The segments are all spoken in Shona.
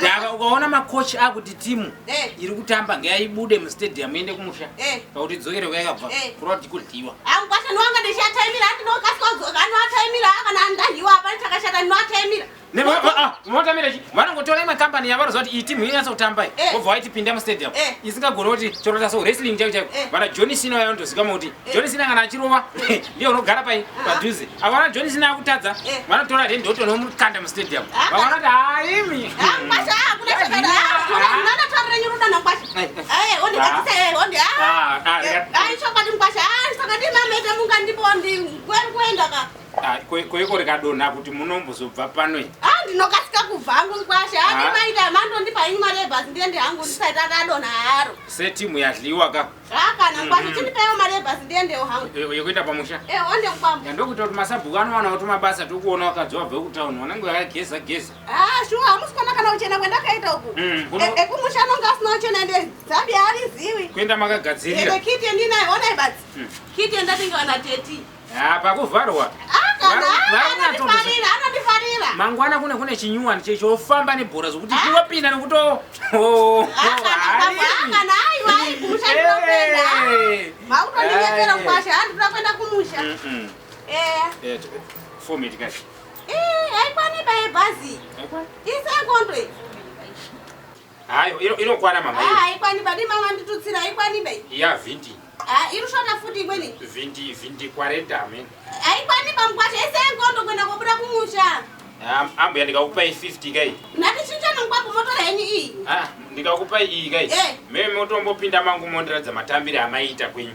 Ndava ukaona makochi akuti timu eh. iri kutamba ngaibude mustadium iende kumusha eh. pakuti dzokere kwayakabva eh. kurova kuti kudyiwa angwasha ndiwanga ndichataimira andinokasikanoataimira kana andadyiwa hapani chakashata ndinoataimira motamira chi vanongotora imwe kambani yavanoziva kuti iyi timu inonyatsa kutambai vobva vaitipinda mustadium isingagoni kuti chorota so wrestling chaiko chaiko vana johni sina vayondozikama kuti johni sina kana achirova ndiye unogara pai ah. padhuze avo vana joni sina akutadza eh. vanotora rendi otono mukanda mustadium ah. vavo vanoti haimi koiko rikadonha kuti munombozobva pano ah, ndinokasika kubva hangu mkwasha andimaita mantondipa imari yebhasi ndiende hangu ndisaita radonha haro setimu yadliwa ka Haa kana kwacho mm-hmm. chindipaiwo mari yebhasi ndiendewo hangu. Eh, yekuenda pamusha? Eh, onde kwambo. Yandokuita kuti masabhuku anowana kuti mabasa tokuona wakadzi wabve kutown wanenge wakageza geza. Ah, shuwa hamusi kuona kana uchena kwendakaita uku. Mm, eh, ekumusha eh, anonga asina uchena ende zambi haariziwi. Kuenda makagadzirira. Ende eh, kiti ndinayo onai basi. Mm. Kiti endatinga wana teti. Ah, pakuvharwa. mangwana kune kune chinyuwani che chofamba nebhora zvokuti chinopinda nekuto haikwane baye bhazi isengondo Hayo ino inokwana mama. Ah, haikwani badi mama anditutsira haikwani bai. Ya vindi. Ah, irushona futi imweni. Vindi vindi kwareta amen. Haikwani bamkwasha ese ngondo kwenda kobuda kumusha. Ah, ambo ya ndikakupa 50 kai. Nati chinja nongwa kumotora yenyu iyi. Ah, ndikakupa iyi kai. Eh. Mimi utombopinda mangu mondiradza matambire amaita kwenyu.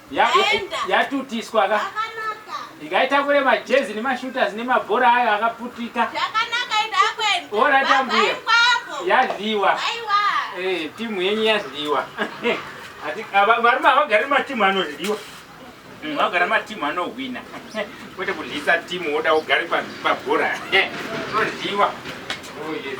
yatutiswa ka ikaitakure majezi nemashooters nemabhora ayo akaputika oratambuya yadliwa eh, timu yenyu yadliwa varume havagari matimu anodliwa mm, vagara matimu anohwina kwete kudlisa timu woda ugari pabhora odliwa oh, yes.